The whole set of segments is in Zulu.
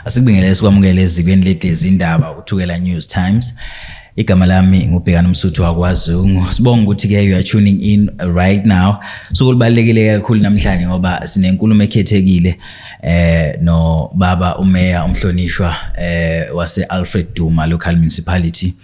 Asikubingelele sikwamukele ezikweni leti izindaba uThukela News Times. Igama lami ngubhekana umsuthu wakwazungu. Sibonga ukuthi ke you are tuning in right now. Suku libalekile kakhulu namhlanje ngoba sinenkulumo ekhethekile eh no baba umeya umhlonishwa eh wase Alfred Duma local municipality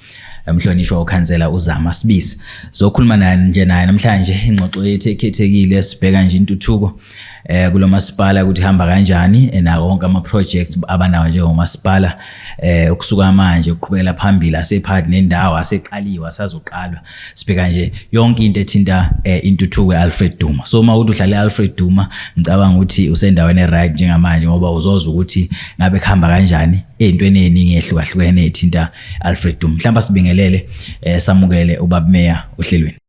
emhlonishwa ukhansela uzama sibisi sokhuluma naye nje naye namhlanje ingxoxo yethu ekhethekile sibheka nje intuthuko eh kulomasipala ukuthi hamba kanjani eh, na wonke ama projects abanawo njengomasipala eh ukusuka manje uqhubekela phambili asephakathi nendawo aseqaliwe asazoqalwa sibheka nje yonke into ethinta eh, intuthuko eAlfred Duma so uma uthi udlala eAlfred Duma ngicabanga ukuthi usendaweni eright njengamanje ngoba uzoza ukuthi ngabe khamba kanjani ezintweni eziningi ehlukahlukene ethinta Alfred Duma mhlawumbe sibingelele eh, samukele ubabmeya ohlelweni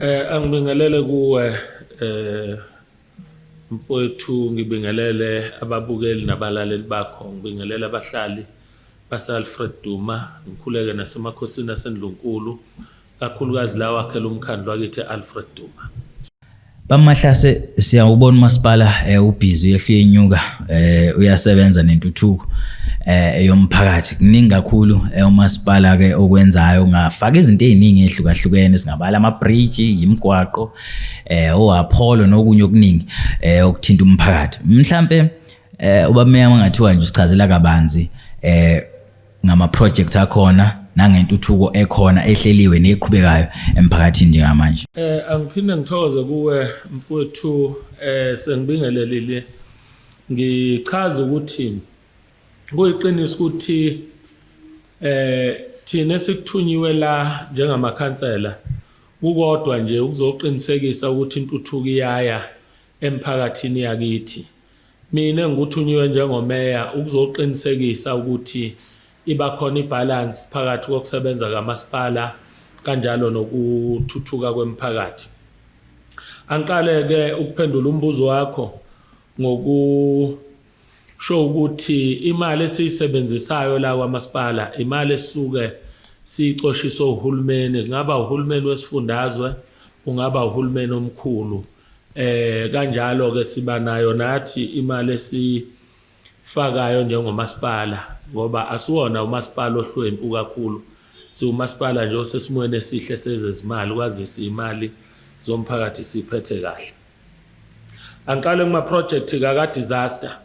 Eh angibingelele kuwe eh mfowethu ngibingelele ababukeli nabalaleli bakho ngibingelele abahlali base-alfred duma ngikhuleke nasemakhosini asendlunkulu kakhulukazi lawo akhele umkhandlu wakithi e-alfred duma Bamahlase siyawubona umasipala eh, ubhizi uyehle uyenyuka eh, uyasebenza nentuthuko eh, eyomphakathi kuningi kakhulu eh, umasipala ke okwenzayo ngafaka izinto eziningi ezihlukahlukene singabala ama bridge imigwaqo eh oApollo nokunye okuningi eh okuthinta umphakathi mhlambe eh ubameyama ngathiwa nje sichazela kabanzi eh ngamaprojekthi akhona nangentuthuko ekhona ehleliwe neqhubekayo emphakathini njengamanje eh angiphinde ngithokoze kuwe mfowethu eh sengibingelelile ngichaza ukuthi kuyiqiniso ukuthi eh thina sikuthunyiwe la njengamakhansela kukodwa nje ukuzoqinisekisa ukuthi intuthuko iyaya emphakathini yakithi Mina ngikuthunyiwe njengoMeya ukuzoqinisekisa ukuthi iba khona ibhalansi phakathi kokusebenza kaMasipala kanjalo nokuthuthuka kwemiphakathi. Angiqale-ke ukuphendula umbuzo wakho ngokusho ukuthi imali esiyisebenzisayo la kwaMasipala imali esisuke siyicoshiswe uHulumeni, kungaba uHulumeni wesifundazwe, kungaba uHulumeni omkhulu. Eh kanjalo ke siba nayo nathi imali esifakayo njengomasipala ngoba asiwona umasipala ohlwempu kakhulu siwumasipala nje osesimweni esihle sezezimali kwazise imali zomphakathi siphethe kahle angiqale kuma project ka disaster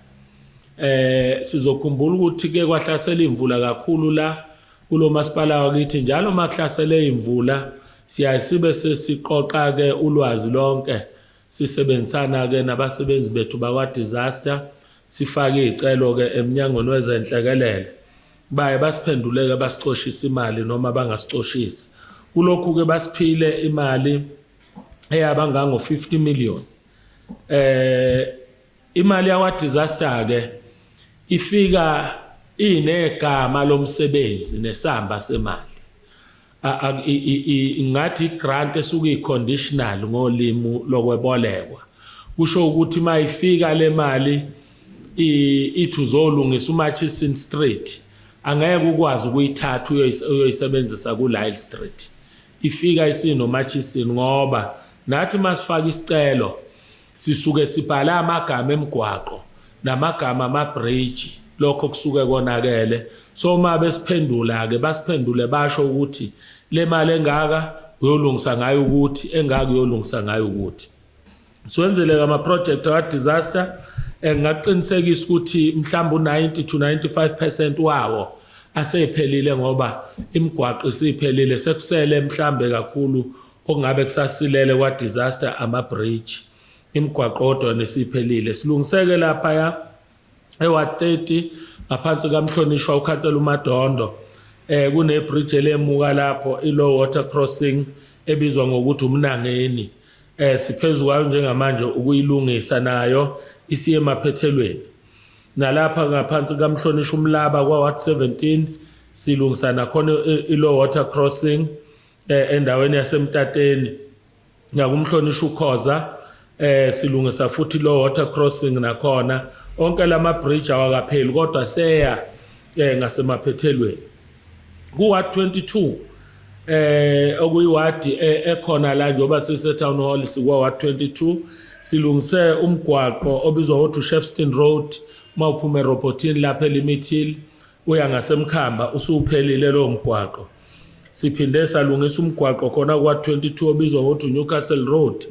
eh sizokhumbula ukuthi ke kwahlasela imvula kakhulu la Kulo masipala wakithi njalo uma kuhlasele imvula siyaye sibe sesiqoqa-ke ulwazi lonke sisebenzisana-ke nabasebenzi bethu bakwa-disaster sifake iy'celo-ke emnyangweni wezenhlekelele baye basiphenduleke basicoshise imali noma bangasicoshisi kulokhu-ke basiphile imali eyaba ngango-50 million eh Imali yakwa disaster ke ifika inegama lomsebenzi nesamba semali. Ngathi grant esuke iconditional ngolimu lokwebolekwa. Kusho ukuthi mayifika le mali ithi uzolungisa uMatchison Street angeke ukwazi ukuyithatha uyoyisebenzisa kuLyle Street. Ifika isinoMatchison ngoba nathi masifaka isicelo Sisuke sibhale amagama emgwaqo namagama amabhriji lokho kusuke konakele so uma besiphendula-ke basiphendule basho ukuthi le mali engaka uyolungisa ngayo ukuthi engaka uyolungisa ngayo ukuthi siwenzeleke amaprojekthi akadisaster engingaqinisekisa ukuthi mhlawumbe u-90 to 95 percent wawo aseyiphelile ngoba imigwaqo isiphelile sekusele mhlambe kakhulu Okungabe kusasilele kwa disaster ama bridge, imigwaqo kodwa yona isiphelile. Silungiseke laphaya ewa 30 ngaphansi kamhlonishwa ukhansela uMadondo eh kune bridge elemuka lapho i low water crossing ebizwa ngokuthi umnangeni eh siphezu kwayo njengamanje ukuyilungisa nayo isiye emaphethelweni nalapha ngaphansi kamhlonishwa umlaba kwa ward 17 silungisa nakhona i low water crossing eh, endaweni yasemtateni ngakumhlonishwa ukhoza eh silungisa futhi lo water crossing nakhona onke lama bridge awakapheli kodwa seya eh ngasemaphethelweni ku ward 22 eh okuyiwadi eh, ekhona la njengoba sise town hall sikwa ward 22 silungise umgwaqo obizwa ngothi uShepston Road mawuphuma eRobotin lapha eLimit Hill Uya ngaseMkhamba usuphelile lowo mgwaqo. Siphinde salungisa umgwaqo khona kwa-22 obizwa ngokuthi Newcastle Road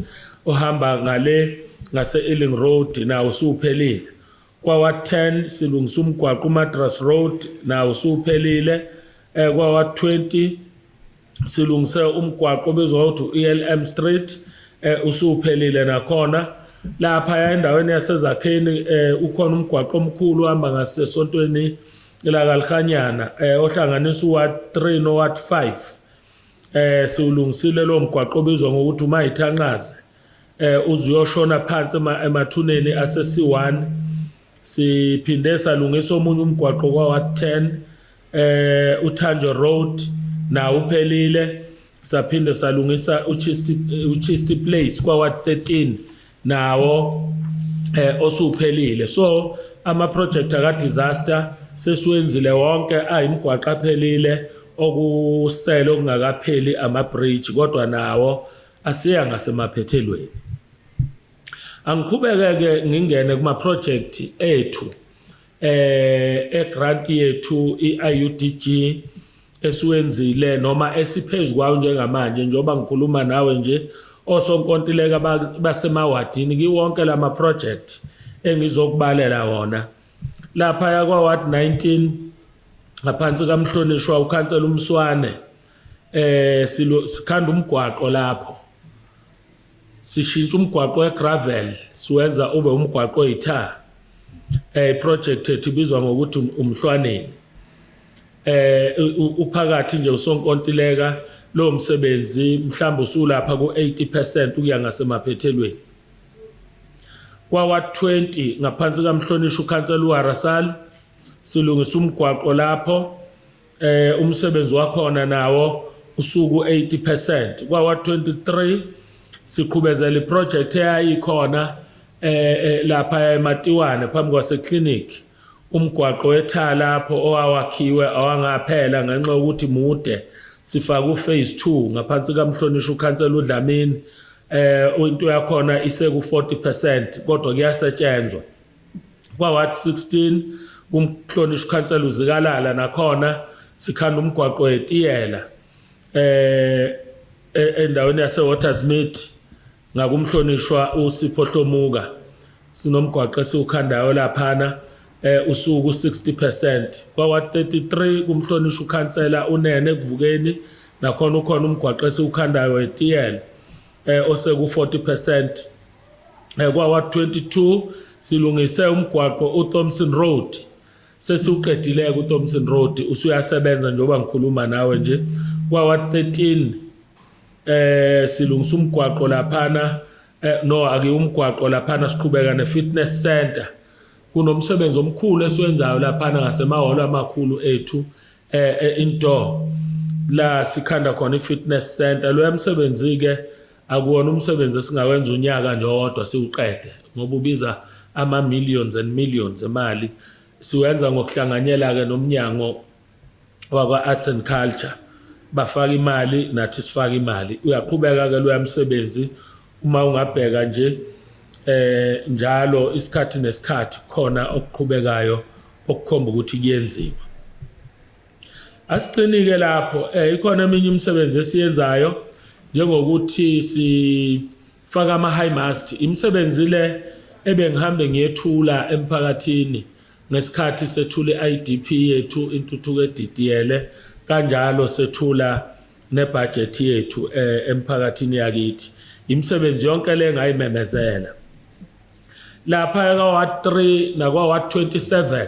ohamba ngale ngase-Ealing Road nawo usuphelile. Kwawa-10 silungisa umgwaqo uMadras Road nawo usuphelile. Eh, Kwawa-20 silungise umgwaqo obizwa ukuthi u-elm street um usuphelile nakhona laphaya endaweni yasezakheni um ukhona umgwaqo omkhulu ohamba ngasesontweni lakalihanyana um eh, ohlanganisa uward three noward five um siwulungisile lowo mgwaqo obizwa ngokuthi umayithanqaze um uze uyoshona phansi emathuneni ase-c one Siphinde salungisa omunye umgwaqo kwaWard 10 eh uThanjo Road nawo uphelile saphinde salungisa uChisti uChisti Place kwaWard 13 nawo eh osuphelile so ama project aka disaster sesiwenzile wonke ayimgwaqo aphelile okusele okungakapheli ama bridge kodwa nawo asiya ngasemaphethelweni Angiqhubeke-ke ngingene kumaphrojekthi ethu eh egrant yethu i-IUDG esiwenzile noma esiphezu kwawo njengamanje njengoba ngikhuluma nawe nje osonkontileka basemawadini kiwonke la maprojekthi engizokubalela wona lapha yakwa-ward 19 ngaphansi kamhlonishwa ukhansela umswane eh sikhanda umgwaqo lapho Sishintsha umgwaqo we-gravel siwenza ube umgwaqo oyitha. Eh iproject ethi ibizwa ngokuthi um-, umhlwaneni. Eh uphakathi nje usonkontileka lo msebenzi mhlawumbe usulapha ku-80% ukuya ngasemaphethelweni. Kwawa-20 ngaphansi kamhlonishwa ukhansela uWarasal silungisa umgwaqo lapho Eh umsebenzi wakhona nawo usuku 80% kwawa 23 siqhubezela iproject eyayikhona eh, eh lapha eMatiwane phambi kwase clinic umgwaqo wethala lapho owawakhiwe awangaphela ngenxa yokuthi mude sifaka uphase 2 ngaphansi kamhlonishwa ukhansela uDlamini eh into yakhona iseku 40% kodwa kuyasetshenzwa Kwa-Ward 16 kuMhlonishwa uKhansela uZikalala nakhona sikhanda umgwaqo wetiyela eh e-, endaweni yaseWatersmead ngakumhlonishwa uSipho Hlomuka sinomgwaqo esiwukhandayo laphana eh usuku 60% kwawa 33 kumhlonishwa ukhansela unene kuvukeni nakhona ukhona umgwaqo esiwukhandayo etiyela eh oseku 40% eh, kwa Ward 22 silungise umgwaqo uThompson Road sesiwuqedileke uThompson Road usuyasebenza njengoba ngikhuluma nawe nje kwa Ward 13 eh silungisa umgwaqo laphana eh, no ake umgwaqo laphana siqhubeka ne fitness center kunomsebenzi omkhulu esiwenzayo laphana ngasemahholo amakhulu ethu eh, eh indoor la sikhanda khona i-fitness center loya msebenzi-ke Akuwona umsebenzi esingawenza unyaka nje owodwa siwuqede ngoba ubiza ama-millions and millions emali. Siwenza ngokuhlanganyela-ke nomnyango wakwa-Arts and Culture. Bafaka imali, nathi sifaka imali. Uyaqhubeka-ke loya msebenzi. Uma ungabheka nje um njalo isikhathi nesikhathi kukhona okuqhubekayo okukhomba ukuthi kuyenziwa. Asiqinike lapho eh ikhona eminye imisebenzi esiyenzayo njengokuthi sifaka ama high mast imisebenzi le ebengihambe ngiyethula emphakathini ngesikhathi sethula i-IDP yethu intuthuko edidiyele kanjalo sethula nebudget yethu eh, emphakathini yakithi imisebenzi yonke le ngayimemezela lapha ka-ward 3 nakwa-ward 27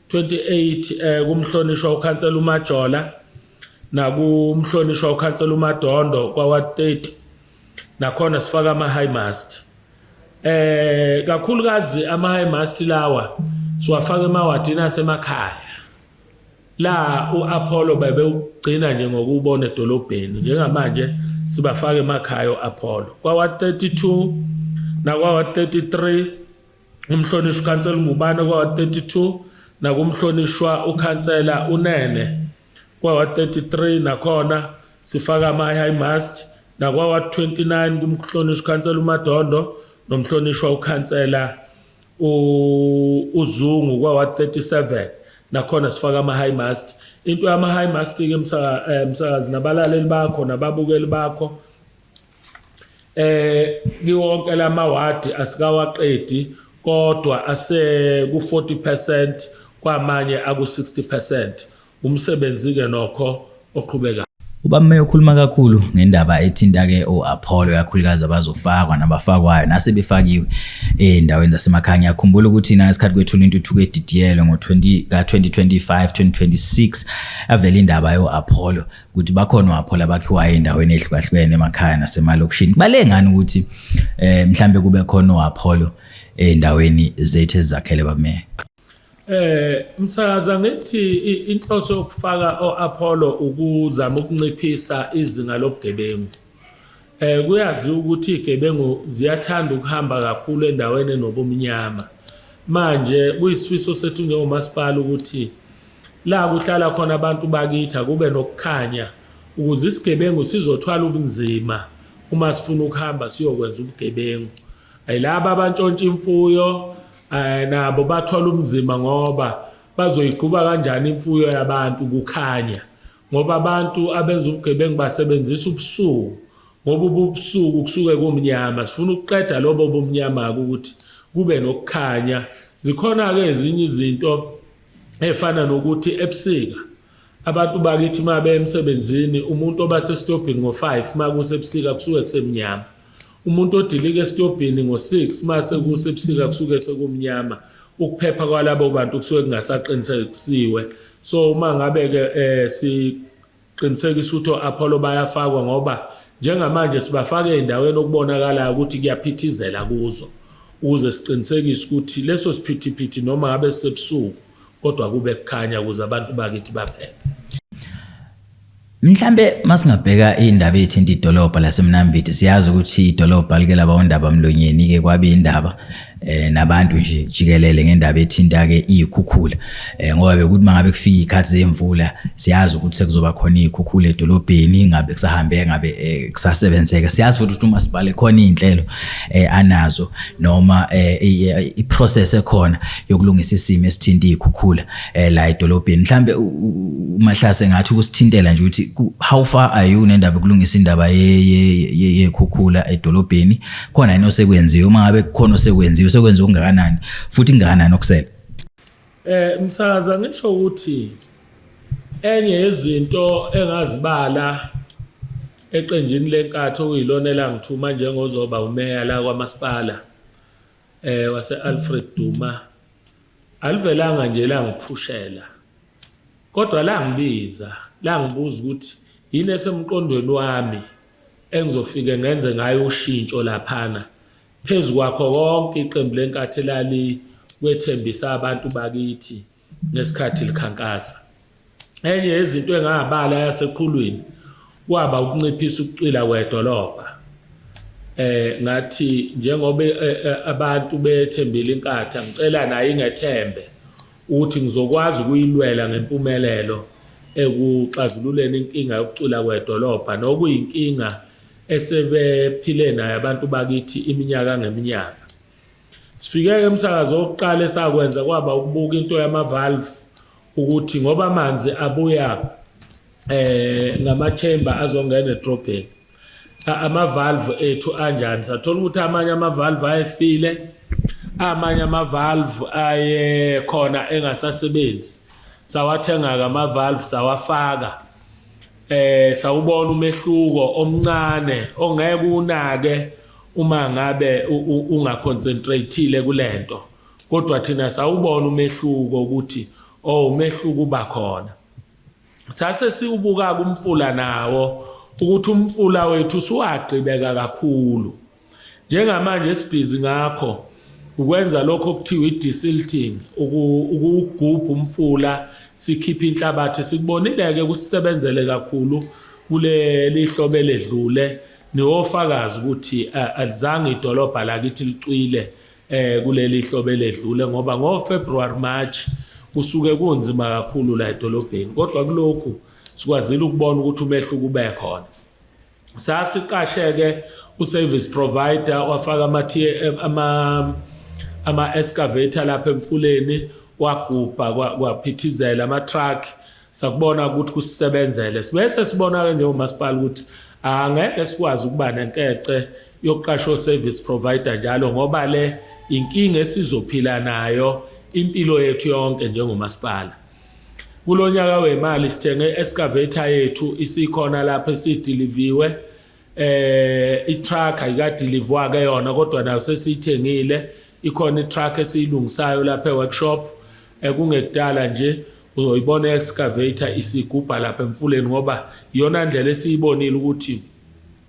28 eh, kumhlonishwa ukhansela uMajola nakumhlonishwa ukhansela uMadondo kwawa 30 nakhona sifaka ama high mast eh kakhulukazi ama high mast lawa siwafaka emawadini asemakhaya la uApollo bebe ugcina nje ngokubona edolobheni njengamanje sibafaka emakhaya uApollo kwawa 32 nakwawa 33 umhlonishwa ukhansela uNgubane kwawa-32 nakumhlonishwa ukhansela uNene kwawa-33 nakhona sifaka ama-high mast nakwawa-29 kumhlonishwa ukhansela uMadondo nomhlonishwa ukhansela uZungu kwawa-37 nakhona sifaka ama-high mast into yama-high mast-ke eh, msakazi nabalaleli bakho nababukeli bakho eh kiwonke lamawadi asikawaqedi kodwa ase ku 40% kwamanye aku 60% umsebenzi ke nokho oqhubekayo Ubameya ukhuluma kakhulu ngendaba ethinta ke oApollo yakhulukazi abazofakwa nabafakwayo nasebefakiwe endaweni zasemakhaya ngiyakhumbula ukuthi na isikhathi kwethula intuthuko edidiyelwe ngo 20 ka 2025 2026 avela indaba yoApollo ukuthi bakhona wapho labakhiwayo endaweni ehlukahlukene emakhaya nasemalokishini balengani ukuthi eh mhlambe kube khona wapholo endaweni zethu ezakhele bameya Eh msakaza ngithi inhloso yokufaka oApollo ukuzama ukunciphisa izinga lobugebengu. Eh kuyazi ukuthi igebengu ziyathanda ukuhamba kakhulu endaweni enobumnyama. Manje kuyisifiso sethu njengomasipala ukuthi La kuhlala khona abantu bakithi akube nokukhanya ukuze isigebengu sizothwala ubunzima uma sifuna ukuhamba siyokwenza ubugebengu. Ayilaba abantshontsha imfuyo eh, nabo bathola ubunzima ngoba bazoyigquba kanjani imfuyo yabantu kukhanya ngoba abantu abenza ubugebengu basebenzisa ubusuku ngoba ububusuku kusuke kumnyama sifuna ukuqeda lobo bumnyama-ke ukuthi kube nokukhanya zikhona-ke ezinye izinto efana nokuthi ebusika abantu bakithi uma beya emsebenzini umuntu oba sesitobhini ngo-five uma kusebusika kusuke kusemnyama umuntu odilika esitobhini ngo-six uma sekusebusika kusuke sekumnyama ukuphepha kwalabo bantu kusuke kungasaqinisekisiwe so uma ngabe-ke um Qinisekisa ukuthi o-Apollo bayafakwa ngoba njengamanje sibafaka ezindaweni okubonakalayo ukuthi kuyaphithizela kuzo ukuze siqinisekise ukuthi leso siphithiphithi noma ngabe sisebusuku kodwa kube kukhanya ukuze abantu bakithi baphephe. Mhlambe masingabheka indaba ethinta idolobha laseMnambithi siyazi ukuthi idolobha like laba ondaba mlonyeni ke kwabe indaba eh nabantu nje jikelele ngendaba ethinta ke izikhukhula eh ngoba bekuthi mangabe kufika ikhathi zemvula siyazi ukuthi sekuzoba khona izikhukhula edolobheni ngabe kusahambe ngabe eh, kusasebenzeka siyazi futhi ukuthi uma sibhale khona izinhlelo eh anazo noma eh, eh i process ekhona yokulungisa isimo esithinta izikhukhula eh la edolobheni mhlambe umahlase ngathi ukusithintela nje ukuthi how far are you nendaba yokulungisa indaba ye yekhukhula edolobheni khona yini osekwenziwe uma ngabe kukhona osekwenziwe sekwenza okungakanani futhi kungakanani okusele eh msakaza ngisho ukuthi enye yezinto engazibala eqenjini lenkathi okuyilona elangithuma njengozoba umeya la kwamasipala eh wase Alfred Duma alivelanga nje langiphushela kodwa langibiza langibuza ukuthi yini esemqondweni wami engizofike ngenze ngayo ushintsho laphana. Phezu kwakho konke iqembu leNkatha elalikwethembisa abantu bakithi ngesikhathi likhankasa. Enye yezinto engabala yaseqhulwini kwaba ukunciphisa ukucwila kwedolobha. Eh ngathi njengoba eh, eh, abantu bethembile iNkatha ngicela nayo ingethembe Uthi, Ngizokwazi ukuyilwela ngempumelelo ekuxazululeni inkinga yokucwila kwedolobha nokuyinkinga esebephile nayo abantu bakithi iminyaka ngeminyaka. Sifike-ke emsakazo wokuqala esakwenza kwaba ukubuka into yama-valve ukuthi ngoba amanzi abuya um ngama-chamber azongena edrobheni Cha amavalve ethu anjani sathola ukuthi amanye amavalve ayefile amanye amavalve aye khona engasasebenzi sawathenga ke amavalve sawafaka eh sawubona umehluko omncane ongeke unake uma ngabe ungaconcentrateile kulento kodwa thina sawubona umehluko ukuthi oh umehluko uba khona Sase siwubuka-ke umfula nawo ukuthi umfula wethu usuwagqibeka kakhulu. Njengamanje sibhizi ngakho ukwenza lokho okuthiwa i-desilting, ukuwugubha umfula sikhiphe inhlabathi. Sikubonile-ke kusisebenzele kakhulu kuleli hlobo eledlule niwofakazi ukuthi alizange idolobha lakithi licwile eh kuleli hlobo eledlule ngoba ngo February March kusuke kunzima kakhulu la edolobheni kodwa kulokhu sikwazile ukubona ukuthi umehluko ube khona sasiqasheke uservice provider wafaka ama ama ama excavator lapha emfuleni wagubha kwaphithizela ama truck sakubona ukuthi kusisebenzele sibe sesibona-ke njengomasipala ukuthi angeke sikwazi ukuba nenkece yokuqasha o-service provider njalo ngoba le inkinga esizophila nayo impilo yethu yonke njengomasipala kulo nyaka wemali sithenge i-excavator yethu isikhona lapho esidiliviwe eh itruck ayikadeliver ke yona kodwa nayo sesiyithengile ikhona itruck esiyilungisayo lapha eworkshop ekungekudala eh, nje uzoyibona excavator isigubha lapha emfuleni ngoba iyona ndlela esiyibonile ukuthi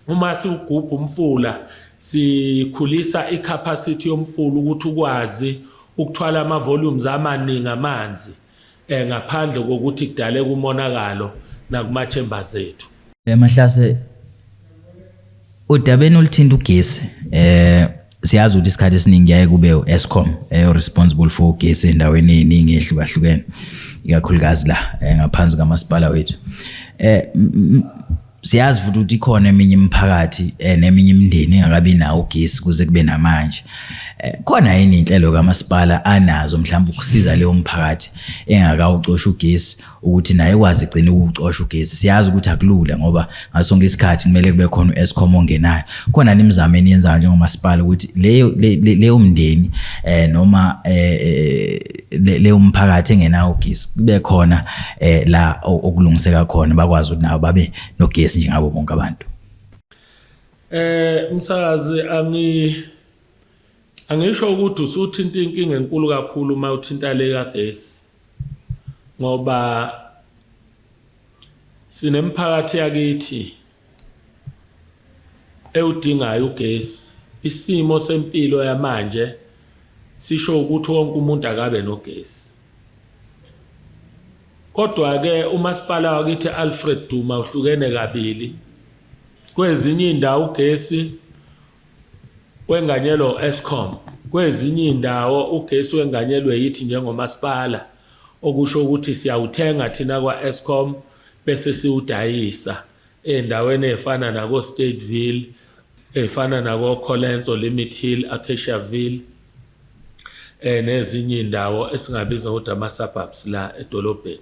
uma siwugubha umfula sikhulisa icapacity yomfula ukuthi ukwazi ukuthwala ama volumes amaningi amanzi eh, ngaphandle kokuthi kudaleke umonakalo nakumathembers ethu. Emahlase udabeni oluthinta ugesi eh siyazi ukuthi isikhathi esiningi yaye kube u-escom eyo responsible for ugesi endaweni eyiningi ehlukahlukene ikakhulukazi la eh, ngaphansi kamasipala wethu eh siyazi futhi ukuthi ikhona eminye imiphakathi eh, neminye imindeni engakabi nawo ugesi kuze kube namanje eh, khona yini inhlelo kamasipala anazo mhlawumbe ukusiza leyo mphakathi engakawucosha ugesi ukuthi naye kwazi igcina ukucosha ugesi siyazi ukuthi akulula ngoba ngasonke isikhathi kumele kube khona u-escom ongenayo khona nimizamo eniyenzayo njengomasipala ukuthi leyo leyo mndeni um noma um leyo mphakathi engenawo ugesi kube khona eh la okulungiseka khona bakwazi ukuthi nabo babe nogesi njengabo bonke abantu eh umsakazi angi angisho ukuthi usuthinta inkinga enkulu kakhulu uma uthinta le kagesi ngoba sinemphakathi yakithi ewudingayo ugesi. Isimo sempilo yamanje sisho ukuthi wonke umuntu akabe nogesi. Kodwa-ke umasipala wakithi Alfred Duma uhlukene kabili. Kwezinye iy'ndawo ugesi Kwenganyelwa u-Eskom. Kwezinye izindawo ugesi wenganyelwe yithi njengomasipala, okusho ukuthi siyawuthenga thina kwa-Eskom bese siwudayisa ezindaweni ezifana nakoStadeville, ezifana nakoColenso, Limit Hill, Acaciaville nezinye izindawo esingabiza ngokuthi ama-suburbs la edolobheni.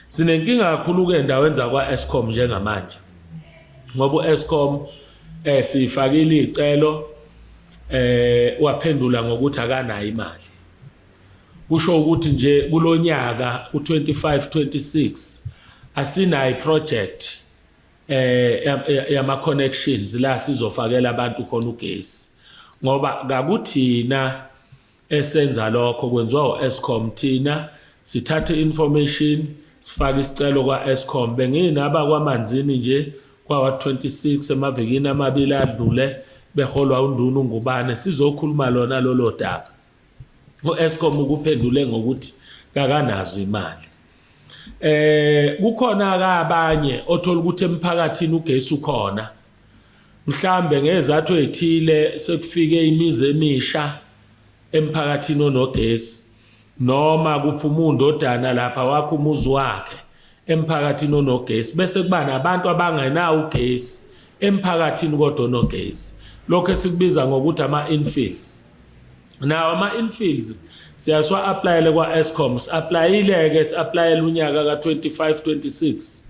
Sinenkinga kakhulu-ke endaweni zakwa-Eskom njengamanje ngoba u-Eskom eh siyifakile icelo eh waphendula ngokuthi akanayo imali kusho ukuthi nje kulonyaka u25 26 asinayo iproject eh yama connections la sizofakela abantu khona ugesi ngoba kakuthina Esenza lokho kwenziwa u-Eskom thina sithatha i-information sifake isicelo kwa-Eskom. Benginaba kwaManzini nje kwawa-26 emavikini amabili adlule beholwa uNduna uNgubane sizokhuluma lona lolo daba. U-Eskom ukuphendule ngokuthi kakanazo imali. Eh kukhona-ke abanye othola ukuthi emphakathini ugesi ukhona Mhlambe ngezathu ezithile sekufike imizi emisha emphakathini onogesi noma kuphuma undodana lapha wakha umuzi wakhe emphakathini onogesi bese kuba nabantu abangenawo ugesi emphakathini kodwa onogesi lokho esikubiza ngokuthi ama-infills nawo ama-infills siyasiwa-aplayele kwa-escom si-aplayile-ke si-aplayela unyaka ka-25 26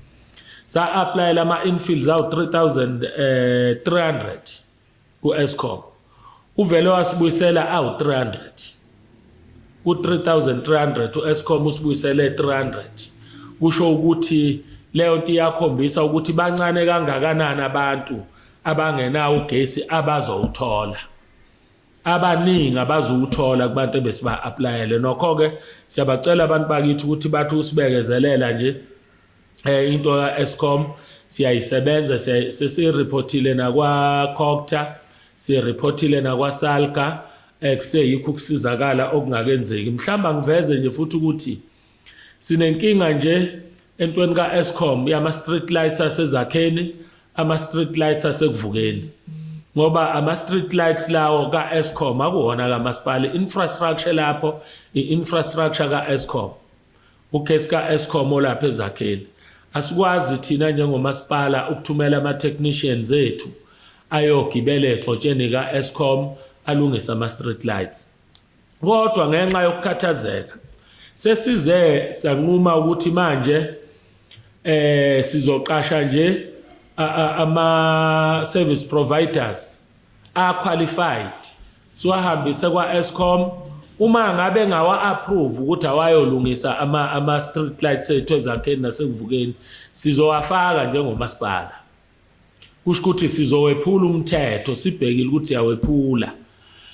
sa-aplayela ama-infields awu-3300 eh, ku-escom uvele wasibuyisela awu-300 ku-3300 u-escom usibuyisele 300 kusho ukuthi leyo nto iyakhombisa ukuthi bancane kangakanani abantu abangenawo ugesi abazowuthola abaningi abazuwuthola kubantu ebesiba-aplayele nokho-ke siyabacela abantu bakithi ukuthi bathi usibekezelela nje Eh into ka Eskom siyayisebenza sesirepotile nakwa Cocta sirepotile nakwa Salga ekuseyikho eh, ukusizakala okungakenzeki mhlawumbe angiveze nje futhi ukuthi sinenkinga nje entweni ka Eskom yama street lights asezakheni ama street lights asekuvukeni ngoba ama street lights lawo ka Eskom akuwona kamasipala infrastructure lapho i infrastructure ka Eskom Ugesi ka-Eskom olapha eZakhele. Asikwazi thina njengomasipala ukuthumela ama-technicians ethu ayogibela egxotsheni ka-Eskom alungise ama-street lights. Kodwa ngenxa yokukhathazeka sesize sanquma ukuthi manje eh sizoqasha nje ama service providers are qualified siwahambise kwa-escom uma ngabe ngawa-approve ukuthi awayolungisa ama-street ama lights ethu ezakheni nasekuvukeni sizowafaka njengomasipala kusho ukuthi sizowephula umthetho sibhekile ukuthi siyawephula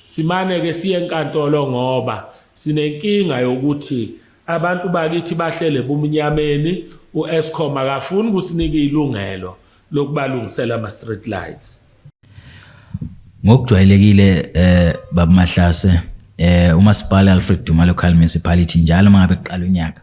simane-ke siye enkantolo ngoba sinenkinga yokuthi abantu bakithi bahlele bumnyameni u-escom akafuni ukusinika ilungelo lokubalungisela ama street lights ngokujwayelekile eh babumahlase eh umasipala Alfred Duma Local Municipality njalo mangabe kuqala unyaka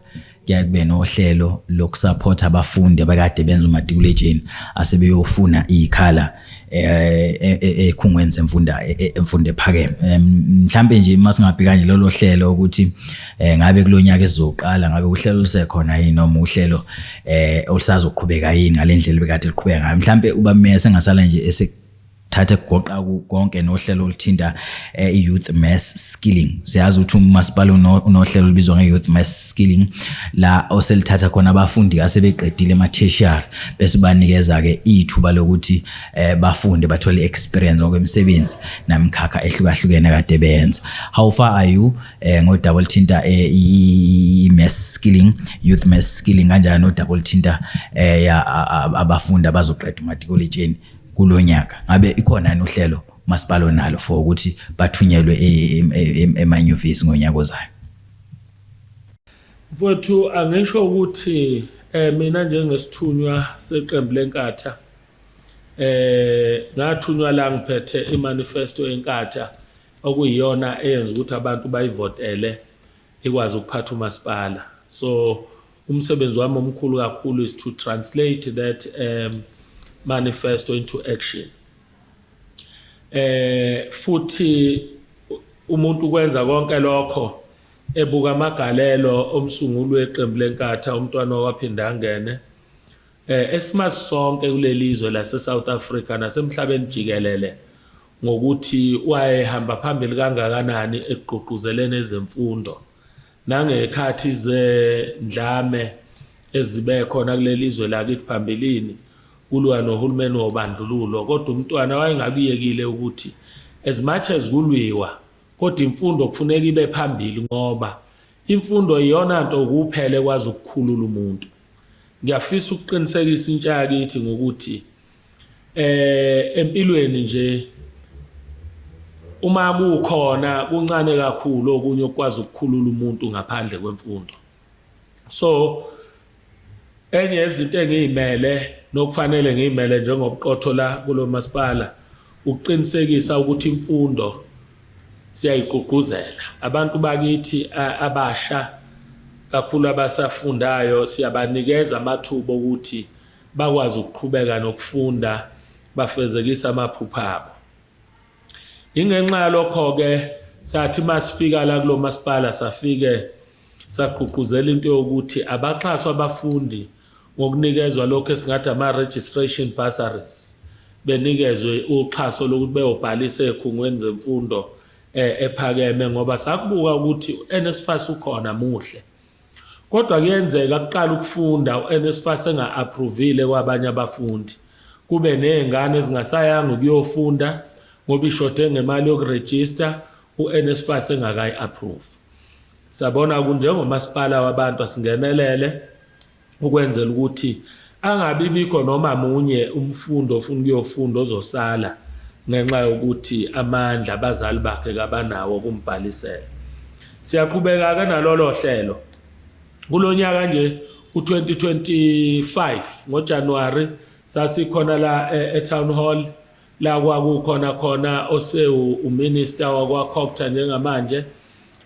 kuyaye kube nohlelo lokusupporta abafundi abakade benza umatikuletsheni asebeyofuna ikhala eh, e, e, ekhungweni semfunda e, emfundo ephakeme mhlambe nje uma singabheka nje lolu hlelo ukuthi eh, ngabe kulonyaka esizoqala ngabe uhlelo lusekhona yini noma uhlelo eh ulisazoqhubeka yini ngalendlela bekade liqhubeka ngayo mhlambe uba meya sengasala nje esekuthatha kugoqa konke nohlelo oluthinta eh, i-youth mass skilling siyazi ukuthi umasipala unohlelo olubizwa nge-youth mass skilling la oselithatha khona abafundi asebeqedile ema-tertiary bese banikeza-ke ithuba lokuthi eh, bafunde bathole i-experience ngokwemisebenzi namikhakha ehlukahlukene kade benza how far are you eh ngodaba olithinta eh, i-mass skilling youth mass skilling kanjalo nodaba olithinta eh abafundi abazoqeda umatikuletsheni kulonyaka ngabe ikhona yini uhlelo masipalo nalo for ukuthi bathunyelwe e-, e-, e-, emanyuvesi ngonyaka ozayo mfowethu angisho ukuthi eh mina njengesithunywa seqembu lenkatha eh ngathunywa la ngiphethe imanifesto enkatha okuyiyona eyenza ukuthi abantu bayivotele ikwazi ukuphatha umasipala so umsebenzi wami omkhulu kakhulu is to translate that um, manifesto into action eh futhi umuntu ukwenza konke lokho ebuka amagalelo omsunguli weqembu lenkatha umntwana waphinde angene eh esimazi sonke kulelizwe lase South Africa nasemhlabeni jikelele ngokuthi wayehamba phambili kangakanani ekugqugquzeleni ezemfundo nangekhathi zendlame ezibe khona kuleli zwe lakithi phambilini kulwa nohulumeni wobandlululo kodwa umntwana wayengakuyekile ukuthi as much as kulwiwa kodwa imfundo kufuneka ibe phambili ngoba imfundo iyona nto kuphele kwazi ukukhulula umuntu ngiyafisa ukuqinisekisa intsha yakithi ngokuthi Eh empilweni nje uma kukhona kuncane kakhulu okunye okwazi ukukhulula umuntu ngaphandle kwemfundo so enye yezinto engiyimele nokufanele ngiyimele njengobuqotho la kulo masipala ukuqinisekisa ukuthi imfundo siyayigqugquzela abantu bakithi abasha kakhulu abasafundayo siyabanikeza amathuba okuthi bakwazi ukuqhubeka nokufunda bafezekise amaphupha abo. Ingenxa yalokho-ke sathi masifika la kulo masipala safike sagqugquzela into yokuthi abaxhaswa abafundi ngokunikezwa lokho esingathi ama-registration bursaries benikezwe uxhaso lokuthi beyobhalisa ey'khungweni zemfundo um ephakeme ngoba sakubuka ukuthi u-nsfas ukhona muhle Kodwa kuyenzeka kuqale ukufunda uNSFAS enga-aphruvile kwabanye abafundi, kube nezingane ezingasayanga ukuyofunda ngoba ishode ngemali yokurejista uNSFAS engakayi-aphruvi. Sabona ukuthi njengomasipala wabantu asingenelele ukwenzela ukuthi Angabi bikho noma munye umfundi ofuna ukuyofunda ozosala ngenxa yokuthi amandla abazali bakhe kabanawo okumbhalisela. Siyaqhubeka-ke nalolo hlelo. Kulo nyaka nje u-2025 ngoJanuwari sasikhona la e, e-Town Hall la kwakukhona khona osewu uminister wakwaCogta njengamanje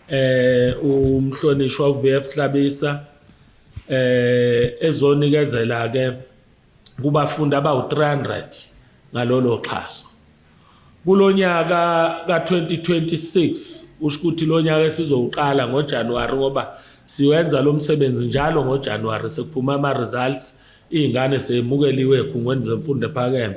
eh umhlonishwa uVF Hlabisa eh ezonikezela ke kubafundi abawu-300 ngalolo xhaso kulonyaka ka-2026 usho ukuthi lo nyaka esizowuqala ngojanuwari ngoba siwenza lo msebenzi njalo ngojanuwari sekuphuma ama-results iy'ngane seyemukeliwe ekhungweni zemfundo ephakeme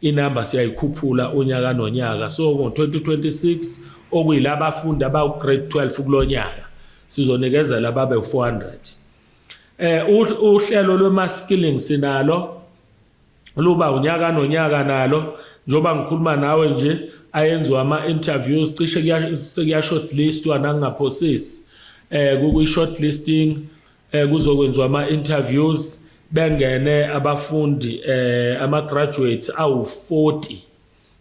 Inamba siyayikhuphula unyaka nonyaka so ngo-2026 okuyila bafundi abawu-grade 12 kulo nyaka sizonikezela ababe u-400. Um uhlelo lwema-skilling sinalo luba unyaka nonyaka nalo njengoba ngikhuluma nawe nje ayenziwa ama-interviews cishe sekuya-shortlistwa nangingaphosisi um kuyi-shortlisting eh kuzokwenziwa ama interviews bengene abafundi eh ama graduates awu 40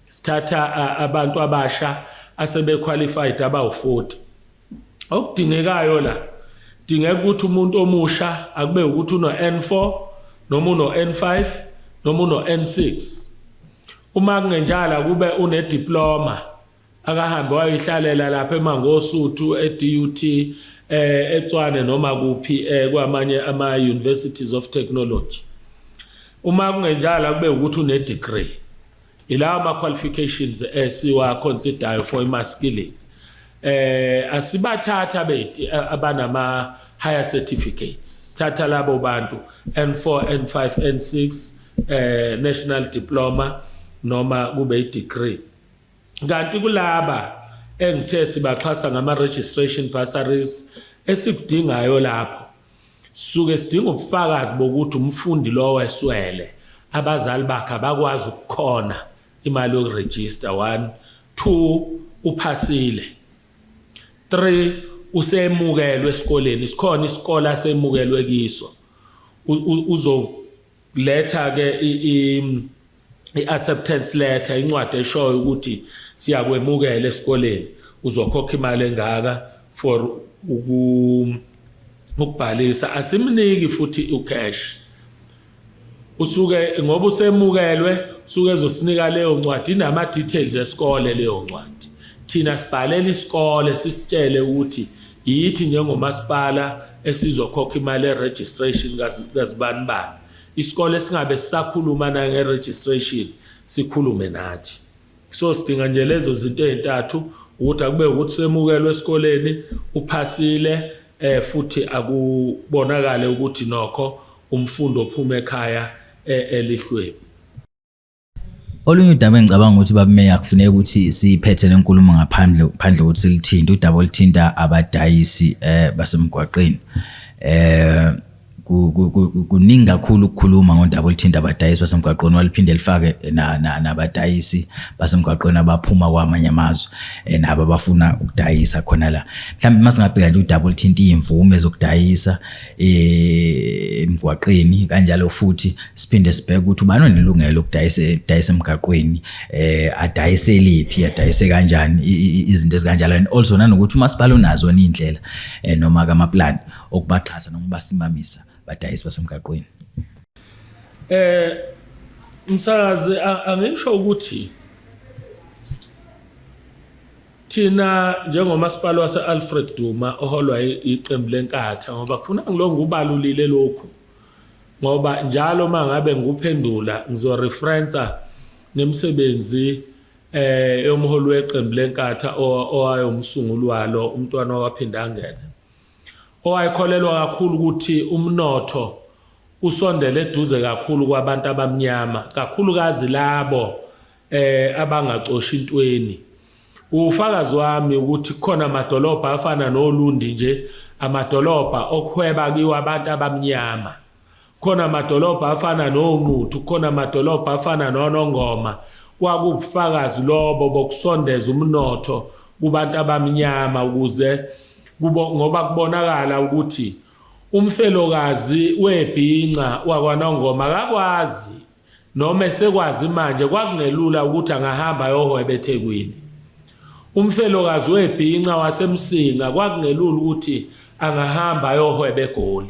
sithatha abantu abasha asebe qualified abawu 40 okudingekayo la dingeka ukuthi umuntu omusha akube ukuthi uno N4 noma uno N5 noma uno N6 uma kungenjala kube une diploma Akahambe wayoyihlalela lapha eMangosuthu, eDUT, eh, eTswane noma kuphi eh, kwamanye ama-universities of technology. Uma kungenjalo akube ukuthi une-degree. Ilawo ama-qualifications esiwa-considayo for ima-skilling. Eh, asibathathi abeti abanama higher certificates sithatha labo bantu N4 N5 N6 eh national diploma noma kube i degree Kanti kulaba engithe sibaxhasa ngama-registration bursaries esikudingayo lapho suke sidinga ubufakazi bokuthi umfundi lowo eswele abazali bakhe abakwazi ukukhona imali yokurejista one two uphasile three usemukelwe esikoleni sikhona isikole asemukelwe kiso uzo letha ke i-acceptance letter incwadi eshoyo ukuthi siyakwemukela esikoleni uzokhokha imali engaka for ukubhalisa asimniki futhi ucash usuke ngoba usemukelwe usuke ezosinika leyo ncwadi inama-details esikole leyo ncwadi thina sibhalela isikole sisitshele ukuthi Yithi njengomasipala esizokhokha imali e-registration kazibanibani. Isikole singabe sisakhuluma nange-registration, sikhulume nathi. So sidinga nje lezo zinto ezintathu ukuthi akube ukuthi semukelwe esikoleni uphasile eh futhi akubonakale ukuthi nokho umfundi ophuma ekhaya eh, elihlwebi Olunye udaba engicabanga ukuthi babumeya kufuneka ukuthi siyiphethe lenkulumo ngaphandle phandle ukuthi silithinte udaba olithinta abadayisi eh basemgwaqeni. Eh kuningi kakhulu ukukhuluma ngodaba olithinta abadayisi basemgwaqweni waliphinde lifake nabadayisi basemgwaqweni abaphuma kwamanye amazwe eh, nabo abafuna ukudayisa khona la mhlawumbe uma singabheka nje udaba olithinta iy'mvume zokudayisa eh, emgwaqeni kanjalo futhi siphinde sibheke ukuthi ubani onelungelo lokudayisa dayisa emgaqweni eh adayise liphi adayise kanjani izinto ezikanjalo and also nanokuthi umasipala unazo indlela eh, noma kama plan okubaxhasa noma basimamisa badayisi basemgaqweni eh msakazi angisho ukuthi Thina njengomasipala wase-Alfred Duma oholwa iqembu leNkatha ngoba kufuna ngilo ngubalulile lokhu ngoba njalo uma ngabe ngikuphendula ngizoreferensa nemisebenzi eh yomholi weqembu leNkatha owayomsunguli walo umntwana waphinde angene owayekholelwa kakhulu ukuthi umnotho usondele eduze kakhulu kwabantu abamnyama kakhulukazi labo eh abangacoshi intweni ufakazi wami ukuthi khona amadolobha afana noLundi nje amadolobha okuhweba kiwa abantu abamnyama khona amadolobha afana noNquthu khona amadolobha afana noNongoma kwakubufakazi lobo bokusondeza umnotho kubantu abamnyama ukuze kubo ngoba kubonakala ukuthi umfelokazi webhinca wakwanongoma akakwazi Noma esekwazi manje kwakungelula ukuthi angahamba ayohweba eThekwini. Umfelokazi webhinca waseMsinga kwakungelula ukuthi angahamba ayohweba eGoli.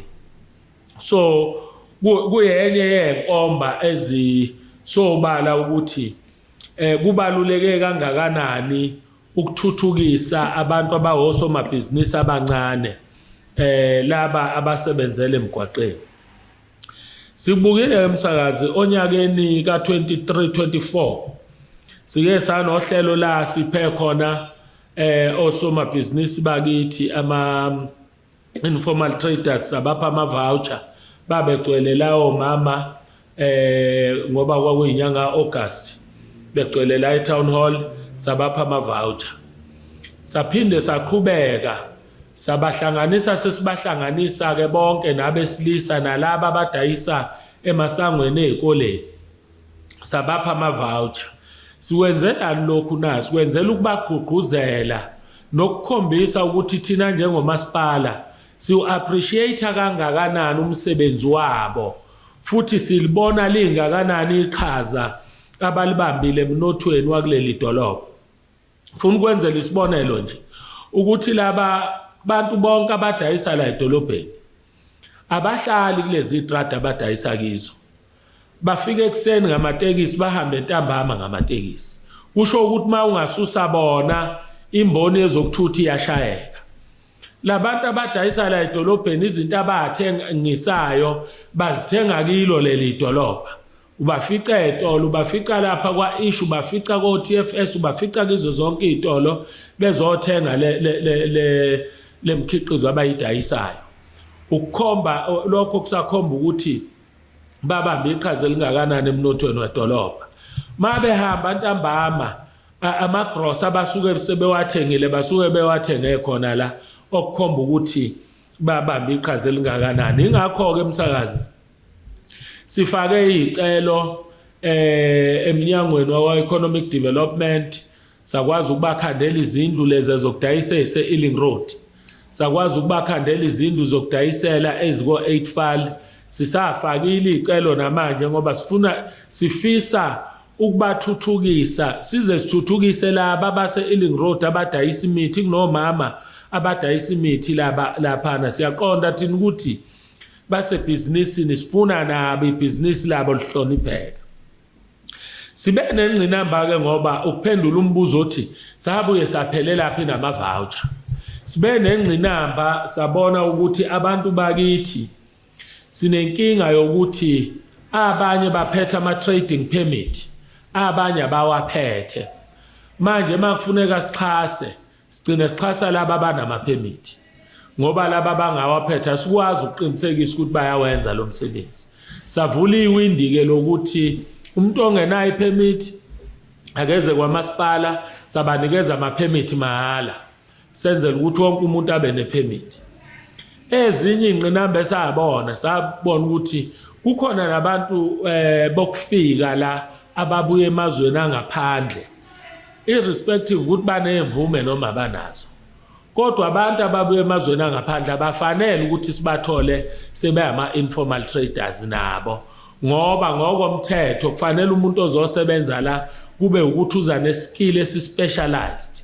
So kuyenye yezinkomba ezisobala ukuthi eh kubaluleke kangakanani ukuthuthukisa abantu abahosomabhizinisi abancane eh laba abasebenzele emgwaqeni. Sikubukile-ke msakazi onyakeni ka-2324 sike sanohlelo la siphe khona eh osomabhizinisi bakithi ama informal traders abapha ama voucher babegcwele lawo mama eh ngoba kwakuyinyanga August begcwele la e town hall sabapha ama voucher saphinde saqhubeka Sabahlanganisa sesibahlanganisa-ke bonke nabesilisa nalaba abadayisa emasangweni ezikoleni, sabapha ama-voucher. Sikwenzelani lokhu na? Sikwenzela ukubagqugquzela nokukhombisa ukuthi thina njengomasipala siwu-appreciate-a kangakanani umsebenzi wabo futhi silibona lingakanani iqhaza abalibambile emnothweni wakuleli dolobha. Ngifuna ukwenzela isibonelo nje ukuthi laba bantu bonke abadayisa la edolobheni abahlali kulezi trade abadayisa kizo bafika ekuseni ngamatekisi bahambe entambama ngamatekisi kusho ukuthi uma ungasusa bona imboni yezokuthutha iyashayeka labantu abadayisa la edolobheni izinto abathengisayo bazithenga kilo leli dolobha Ubafica etolo, ubafica lapha kwa-ish, ubafica ko-TFS, ubafica kizo zonke iy'tolo bezothenga le, le, le, le, le mkhiqizo abayidayisayo. Ukukhomba lokho kusakhomba ukuthi babambe iqhaza elingakanani emnothweni wedolobha. Uma behamba ntambama amagrosa abasuke sebewathengile basuke bewathenge khona la okukhomba ukuthi babambe iqhaza elingakanani. Ingakho-ke msakazi Sifake izicelo eh emnyangweni wawa economic development sakwazi ukubakhandela izindlu lezi zokudayisa ese Ealing Road sakwazi ukubakhandela izindlu zokudayisela eziko 8 file sisafakile izicelo namanje ngoba sifuna sifisa ukubathuthukisa size sithuthukise laba base Ealing Road abadayisa imithi kunomama abadayisa imithi laba laphana siyaqonda thina ukuthi basebhizinisini sifuna nabo ibhizinisi labo lihlonipheke sibe nengqinamba-ke ngoba ukuphendula umbuzo othi sabuye saphelelaphi nama-voucher sibe nengqinamba sabona ukuthi abantu bakithi sinenkinga yokuthi abanye baphethe ama-trading permit abanye abawaphethe manje uma kufuneka sixhase Sigcine sixhasa laba abanamaphemithi ngoba laba bangawaphetha sikwazi ukuqinisekisa ukuthi bayawenza lo msebenzi. Savula iwindi-ke lokuthi umuntu ongenayo iphemithi akeze kwamasipala sabanikeza amaphemithi mahhala senzela ukuthi wonke umuntu abe nephemithi. Ezinye iy'ngqinamba esabona sabona ukuthi kukhona nabantu um bokufika la ababuya emazweni angaphandle irrespective ukuthi baney'mvume noma abanazo kodwa abantu ababuya emazweni angaphandle abafanele ukuthi sibathole sebeyama-informal traders nabo ngoba ngokomthetho kufanele umuntu ozosebenza la kube ukuthi uza neskill esispecialized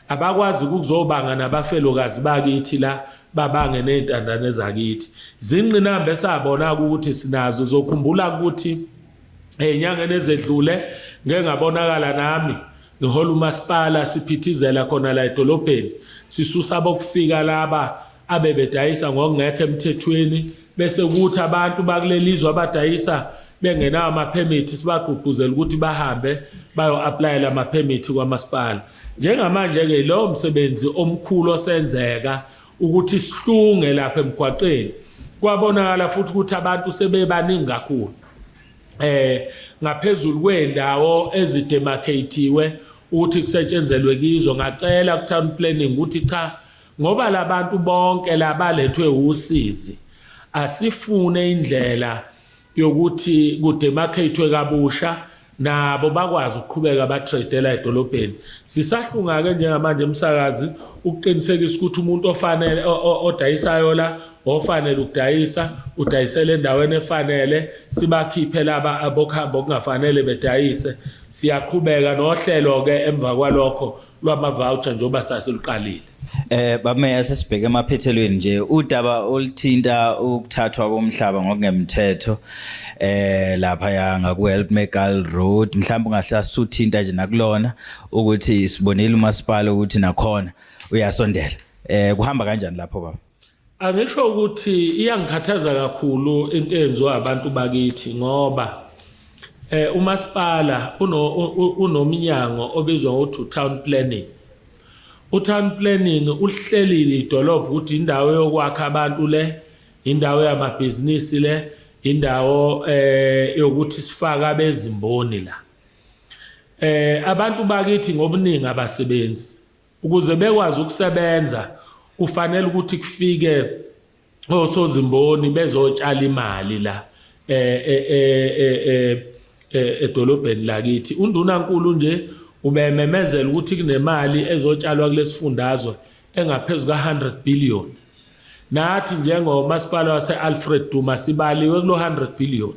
abakwazi ukuzobanga nabafelokazi bakithi la babange ney'ntandane zakithi zingqinamba esabona-ke ukuthi sinazo zokhumbula ukuthi Ezinyangeni ezedlule ngeke ngabonakala nami ngihola umasipala siphithizela khona la edolobheni sisusa abokufika laba abebedayisa ngokungekho emthethweni bese kuthi abantu bakulelizwe abadayisa bengenawo amaphemithi sibagqugquzela ukuthi bahambe bayo-aplayela amaphemithi kwamasipala njengamanje-ke yilowo msebenzi omkhulu osenzeka ukuthi sihlunge lapha emgwaqeni kwabonakala futhi ukuthi abantu sebebaningi kakhulu eh ngaphezulu kwendawo ezidemarcatiwe ukuthi kusetshenzelwe kizo ngacela ku town planning ukuthi cha ngoba labantu bonke labalethwe usizi asifune indlela yokuthi kudemarcatwe kabusha nabo bakwazi ukuqhubeka batradela edolobheni sisahlungake njengamanje umsakazi ukuqinisekisa ukuthi umuntu ofanele odayisayo la ofanele ukudayisa udayisele endaweni efanele sibakhiphe laba abokuhamba okungafanele bedayise siyaqhubeka nohlelo-ke emva kwalokho lwama-voucher njengoba sasiluqalile Eh bameya sesibheke emaphethelweni nje udaba olithinta ukuthathwa komhlaba ngokungemthetho eh lapha ya ngaku Help Megal Road mhlawumbe ungahle asuthinta nje nakulona ukuthi sibonile umasipala ukuthi nakhona uyasondela eh kuhamba kanjani lapho baba Angisho ukuthi iyangikhathaza kakhulu into eyenziwa abantu bakithi ngoba eh umasipala unomnyango obizwa ngokuthi town planning utown planning uhlelile idolobha ukuthi indawo yokwakha abantu le indawo yamabhizinisi le indawo eh yokuthi sifaka bezimboni la eh abantu bakithi ngobuningi abasebenzi Ukuze bekwazi ukusebenza kufanele ukuthi kufike osozimboni bezotshala imali la edolobheni lakithi. UNdunankulu nje ubememezela ukuthi kunemali ezotshalwa kulesifundazwe engaphezu ka-100 billion. Nathi njengomasipala wase-Alfred Duma sibaliwe kulo 100 billion.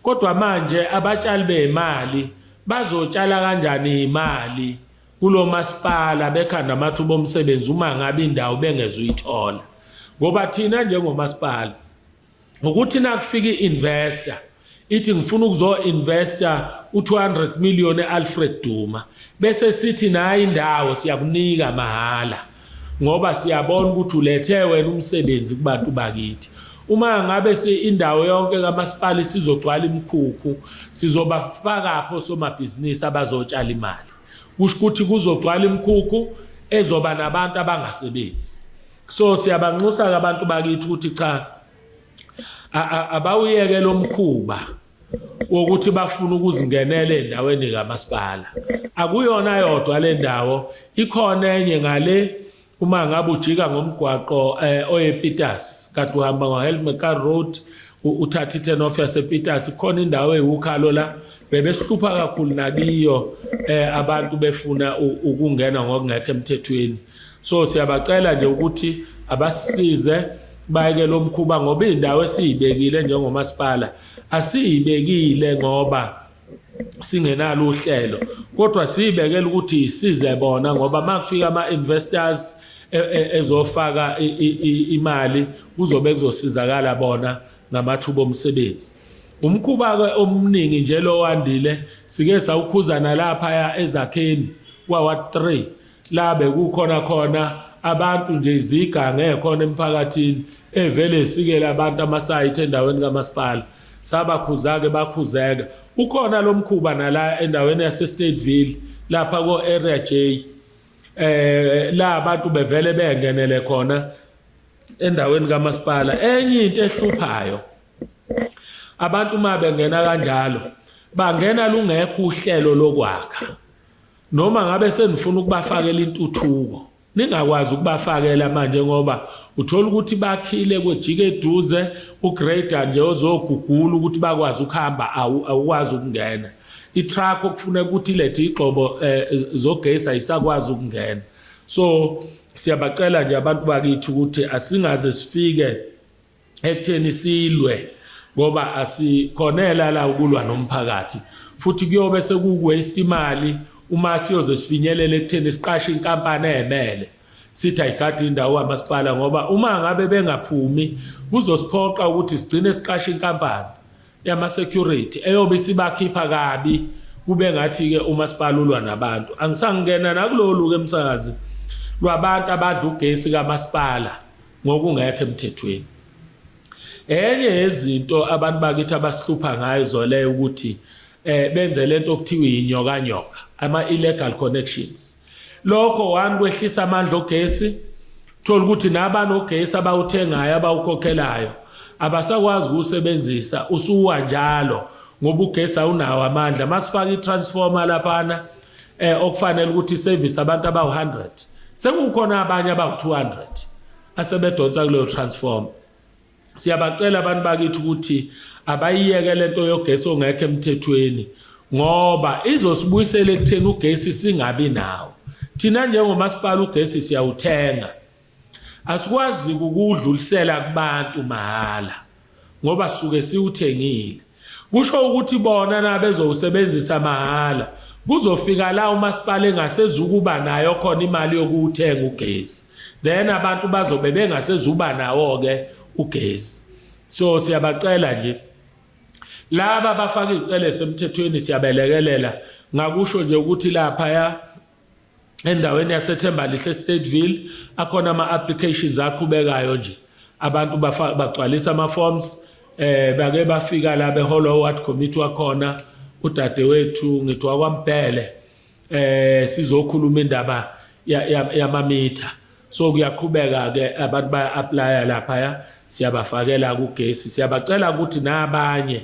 Kodwa manje abatshali bey'mali bazotshala kanjani iy'mali kulo masipala bekhanda amathuba omsebenzi uma ngabe indawo bengeze uyithola ngoba thina njengomasipala ngokuthi nakufika i-investor ithi ngifuna ukuzo-investa u-200 million e-alfred duma bese sithi nayo indawo siyakunika mahhala ngoba siyabona ukuthi ulethe wena umsebenzi kubantu bakithi uma ngabe indawo yonke kamasipala isizogcwala imikhukhu sizobafakaphi osomabhizinisi abazotshala imali Kusho ukuthi kuzogcwala imikhukhu ezoba nabantu abangasebenzi. So siyabanxusa-ke abantu bakithi ukuthi cha abawuyeke lo mkhuba wokuthi bafuna ukuzingenela endaweni kamasipala akuyona yodwa le ndawo ikhona enye ngale Uma ngabe ujika ngomgwaqo eh, oyePitas kade uhamba ngoHelmecar Road uthatha i-turn off yasePitas khona indawo eyiwukhalo la bebesihlupha kakhulu nakiyo eh abantu befuna ukungena ngokungekho emthethweni so siyabacela nje ukuthi abasize bayeke lo mkhuba ngoba indawo esiyibekile njengomasipala asiyibekile ngoba singenalo uhlelo kodwa siyibekela ukuthi isize bona ngoba makufika ama investors e, e, ezofaka imali kuzobe kuzosizakala bona ngamathuba omsebenzi umkhuba ke omningi nje lowandile sike sawukhuzana lapha ezakheni kwa 3 la bekukhona khona abantu nje iziga ngekhona emphakathini evele esikele abantu amasayithi endaweni kamasipala sabakhuza-ke bakhuzeka ukhona lo mkhuba nala endaweni yasestateville lapha ko-area j eh la abantu bevele bengenele khona endaweni kamasipala enye into ehluphayo abantu uma bengena kanjalo bangena lungekho uhlelo lokwakha Noma ngabe senifuna ukubafakela intuthuko, ningakwazi ukubafakela manje ngoba uthola ukuthi bakhile kwejike eduze ugrader nje ozogugula ukuthi bakwazi ukuhamba awukwazi ukungena itruck okufuneka ukuthi ilethe igxobo eh, zogesi ayisakwazi ukungena so siyabacela nje abantu bakithi ukuthi asingaze sifike ekutheni silwe ngoba asikhonela la ukulwa nomphakathi futhi kuyobe sekuwaste imali uma siyoze sifinyelele ekutheni siqashe inkampani emele sithi ayigadi indawo kamasipala ngoba uma ngabe bengaphumi kuzosiphoqa ukuthi sigcine siqashe inkampani yama security eyobe isibakhipha kabi kube ngathi ke umasipala ulwa nabantu angisangena nakulolu ke msakazi lwabantu abadla ugesi kamasipala ngokungekho emthethweni enye yezinto abantu bakithi abasihlupha ngayo zole ukuthi eh benze lento okuthiwa inyoka nyoka ama illegal connections lokho one kwehlisa amandla ogesi thola ukuthi nabani ogesi abawuthengayo abawukhokhelayo abasakwazi ukusebenzisa usuwa njalo ngoba ugesi awunawo amandla masifaka itransformer laphana eh okufanele ukuthi service abantu abawu100 sekukhona abanye abawu200 asebedonsa kuleyo transform siyabacela abantu bakithi ukuthi abayiyeke lento yogesi ongekho emthethweni ngoba izosibuyisela ekutheni ugesi singabi nawo thina njengomasipala ugesi siyawuthenga Asikwazi kukuwudlulisela kubantu mahhala ngoba suke siwuthengile. Kusho ukuthi bona na bezowusebenzisa mahhala. Kuzofika la umasipala engasezukuba nayo khona imali yokuwuthenga ugesi. Then abantu bazobe bengasezuba nawo-ke ugesi. So siyabacela nje laba bafaka iy'celo esemthethweni siyabelekelela ngakusho nje ukuthi laphaya endaweni yaseThembalihle Stateville akhona ama applications aqhubekayo nje abantu bagcwalisa ama forms eh bake bafika la beholwa ward committee wakhona udadewethu ngithi wakwambhele eh sizokhuluma indaba yamamitha so kuyaqhubeka ke abantu baya apply lapha siyabafakela kugesi siyabacela ukuthi nabanye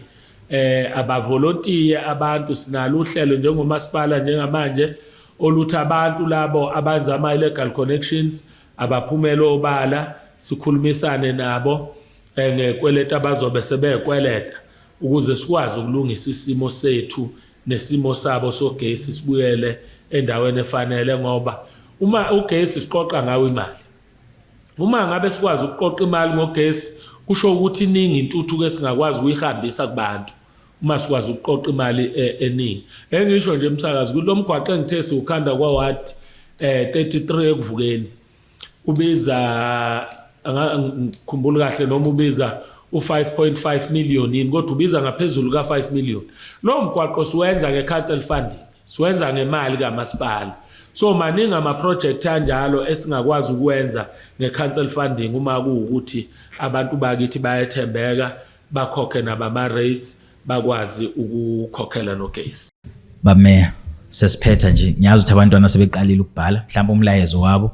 eh abavolontiye abantu sinalo uhlelo njengomasipala njengamanje oluthi abantu labo abenza ama illegal connections abaphumela obala sikhulumisane nabo eh, ngekweleta abazobe sebekweleta ukuze sikwazi ukulungisa isimo sethu nesimo sabo sogesi sibuyele endaweni efanele ngoba uma ugesi siqoqa ngawo imali uma ngabe sikwazi ukuqoqa imali ngogesi kusho ukuthi iningi intuthuko esingakwazi ukuyihambisa kubantu uma sikwazi ukuqoqa imali e, eningi engisho nje msakazi kulo mgwaqo engithe siwukhanda kwaward um 33 ekuvukeni ubiza angikhumbuli kahle noma ubiza u-5.5 million yini kodwa ubiza ngaphezulu ka-5 million lowo mgwaqo siwenza nge-council funding siwenza ngemali kamasipala so maningi amaprojekthi anjalo esingakwazi ukuwenza nge-council funding uma kuwukuthi abantu bakithi bayethembeka bakhokhe nabama-rates bakwazi ukukhokhela lo case. Bameya sesiphetha nje ngiyazi ukuthi abantwana sebeqalile ukubhala mhlawumbe umlayezo wabo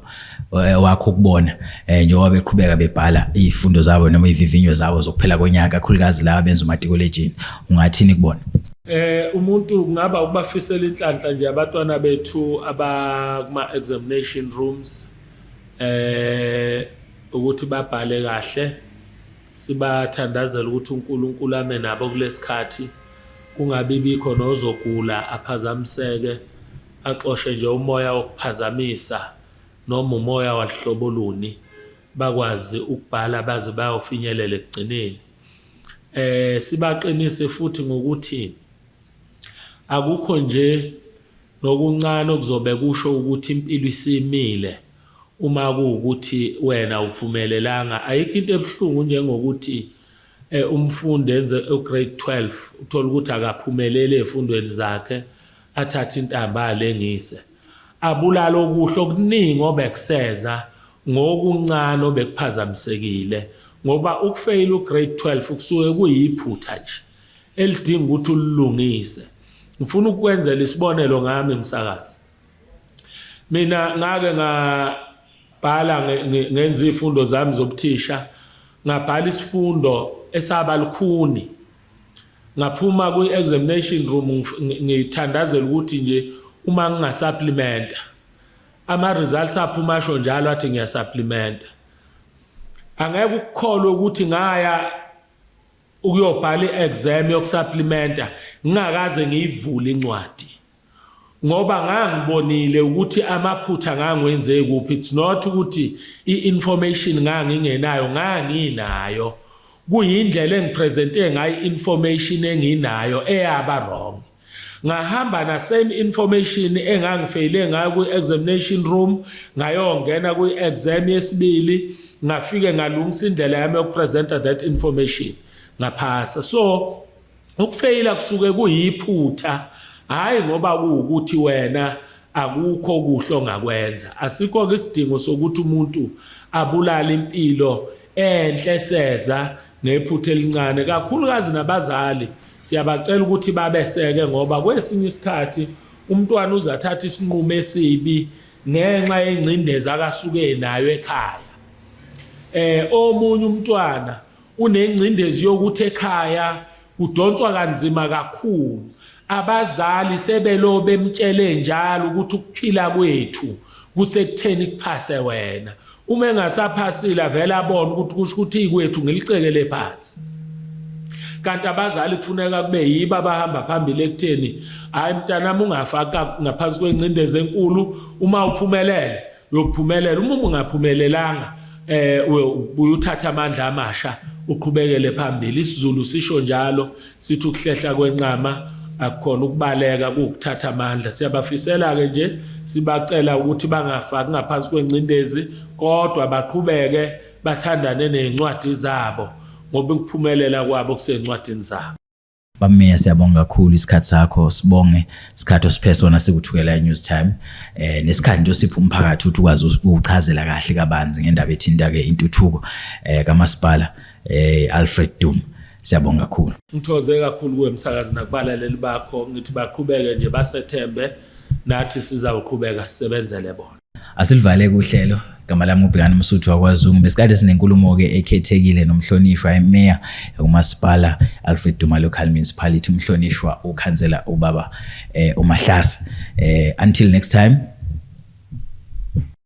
eh, wakho ukubona eh, njengoba beqhubeka bebhala izifundo zabo noma ivivinyo zabo zokuphela konyaka kakhulukazi laba benza umatikuletshini ungathini kubona eh umuntu kungaba ukubafisela inhlanhla nje abantwana bethu abakuma examination rooms eh ukuthi babhale kahle Sibathandazela ukuthi uNkulunkulu ame nabo kulesikhathi kungabi bikho nozogula aphazamiseke axoshe nje umoya wokuphazamisa noma umoya waluhlobo luni bakwazi ukubhala baze bayofinyelela ekugcineni eh sibaqinise futhi ngokuthi akukho nje nokuncane okuzobe kusho ukuthi impilo isimile Uma kuwukuthi wena awuphumelelanga, ayikho into ebuhlungu njengokuthi umfundi enze uGrade 12, uthole ukuthi akaphumeleli ezifundweni zakhe, athathe intambo alengise. Abulale okuhle okuningi obekuseza ngokuncane obekuphazamisekile ngoba ukufeyila uGrade 12 kusuke kuyiphutha nje elidinga ukuthi ulilungise. Ngifuna ukukwenzela isibonelo ngami msakazi. Mina ngake ngabhala ngenza izifundo zami zobuthisha ngabhala isifundo esaba lukhuni ngaphuma kwi-examination room ngithandazela ukuthi nje uma ngingasapplimenta ama-results aphuma asho njalo athi ngiyasapplimenta angeke ukukholwe ukuthi ngaya ukuyobhala i-exam yokusapplimenta ngingakaze ngiyivule incwadi ngoba ngangibonile ukuthi amaphutha ngangwenze kuphi it's not ukuthi i-information ngangingenayo nganginayo kuyindlela engipresente ngayo i-information enginayo eyaba wrong ngahamba na same information engangifeyile ngayo kwi-examination room ngayongena kwi-exam yesibili ngafike ngalungisa indlela yami yokupresenta that information ngaphasa so Ukufeyila kusuke kuyiphutha hhayi ngoba kuwukuthi wena akukho okuhle ongakwenza. Asikho-ke isidingo sokuthi umuntu abulale impilo enhle eseza ngephutha elincane. Kakhulukazi nabazali siyabacela ukuthi babeseke ngoba kwesinye isikhathi umntwana uze athathe isinqumo esibi ngenxa yengcindezi akasuke nayo ekhaya. Eh omunye umntwana Kunengcindezi yokuthi ekhaya kudonswa kanzima kakhulu. Abazali sebelo bemtshele njalo ukuthi ukuphila kwethu kusekutheni kuphase wena. Uma engasaphasile avele abone ukuthi kusho ukuthi ikwethu ngilicekele phansi. Kanti abazali kufuneka kube yibo abahamba phambili ekutheni hhayi mntanami ungafaka ngaphansi kwengcindezi enkulu uma uphumelele uyophumelela uma ungaphumelelanga eh ubuye uthatha amandla amasha uqhubekele phambili isiZulu sisho njalo sithi ukuhlehla kwenqama akukhona ukubaleka kukuthatha amandla siyabafisela ke nje sibacela ukuthi bangafaki ngaphansi kwengcindezi kodwa baqhubeke bathandane nezincwadi zabo ngoba ukuphumelela kwabo kusezincwadini zabo Bameya siyabonga kakhulu isikhathi sakho sibonge isikhathi osiphe sona sikuthukela news time eh nesikhathi nje osipha umphakathi ukuthi ukwazi ukuchazela kahle kabanzi ngendaba ethinta ke intuthuko eh kamasipala eh Alfred Dum siyabonga kakhulu ngithoze kakhulu kuwe msakazi nakubalaleli bakho ngithi baqhubeke nje basethembe nathi sizawuqhubeka sisebenzele bona Asilivale kuhlelo igama lami ubhekani umsuthu wakwazungu besikade sinenkulumo-ke ekhethekile nomhlonishwa emeya kumasipala alfred duma local municipality umhlonishwa ukhansela ubaba eh, umahlasa eh, until next time